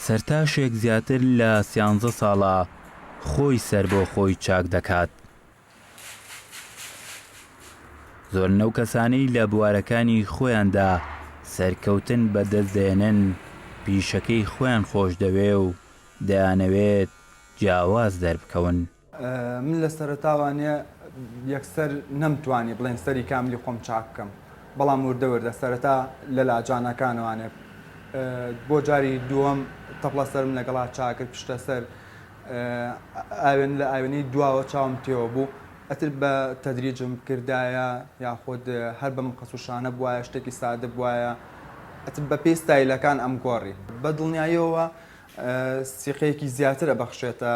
سەرتاشێک زیاتر لە سیانزە ساڵە خۆی سەر بۆ خۆی چاک دەکات. زۆر نەو کەسانەی لە بوارەکانی خۆیاندا سەرکەوتن بەدەست دێنن پیشەکەی خۆیان خۆش دەوێ و دەیانەوێت جیاواز دەربکەون. من لە سەرەتاوە نە یەکسەر نەمتوانی بڵێن سەری کاملی خۆم چاک بکەم بەڵام وردە وردە سەرەتا لە لاجانەکانەوانێ بۆ جاری دووەم تەپڵە سەرم لەگەڵا چاکرد پشتە سەر ئاوێن لە ئاوێنەی دواوە چاوم تێوە بوو ئەتر بە تەدریجم کردایە یاخود هەر بەم قەسوشانە بواە شتێکی سادە بواە ئەتر بە پێی ستایلەکان ئەم گۆڕی بە دڵنیاییەوە سیقەیەکی زیاتر ئەبەخشێتە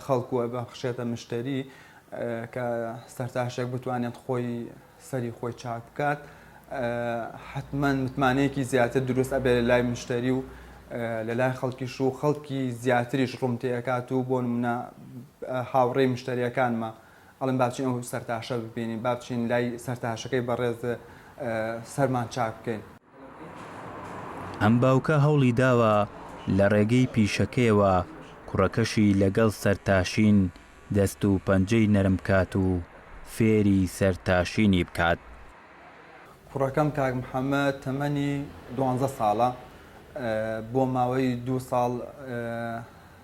خەڵک و ئەبەخشێتە مشتەری کە سەرتاشێک بتوانێت خۆی سەری خۆی چاک بکات حتمما متمانەیەکی زیاتر دروست ئەبێت لە لای مشتەری و لە لای خەڵکیش و خەڵکی زیاتریش ڕوونتێکات و بۆ منە هاوڕێی مشتریەکانمە ئەڵێن با بچین ئەو سەرتاشە ببینین، با بچین لای سەرتاشەکەی بەڕێز سەرمان چاک بکەین. ئەم باوکە هەوڵی داوە لە ڕێگەی پیشەکەیەوە کوڕەکەشی لەگەڵ سەرتاشین دەست و پەنجەی نەرم بکات و فێری سەرتاشینی بکات. کوڕەکەم کاک محەمەد تەمەنی دوانزە ساڵە، بۆ ماوەی دوو ساڵ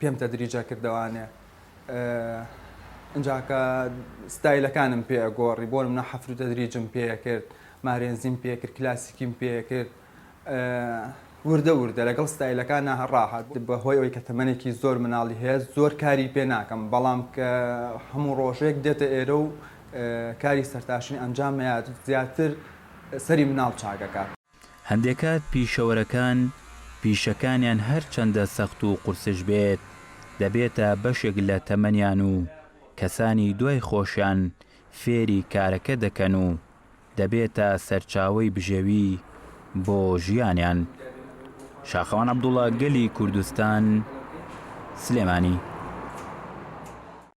پێم تەدریجە کردەوانێ ئینجا کە ستایلەکانم پێ گۆڕی بۆ منە حەفر و تەدریجم پێ کرد مارێنزیم پێ کرد کلاسیکیم پێ کرد وردە وردە لەگەڵ ستایلەکان ناهڕاهات بەهۆی ئەوی کە تەمەێکی زۆر مناڵی هەیە زۆر کاری پێ ناکەم بەڵام کە هەموو ڕۆژێک دێتە ئێرە و کاری سەرتاشین ئەنجامەیە زیاتر سەری مناڵ چاکەکە. هەندێکات پیشەوەرەکان پیشەکانیان هەرچەندە سەخت و قورسش بێت، دەبێتە بەشێک لە تەمەنیان و کەسانی دوای خۆشیان فێری کارەکە دەکەن و دەبێتە سەرچاوەی بژێوی بۆ ژیانیان. شاخەوان عەبدوڵا گەلی کوردستان، سلێمانی.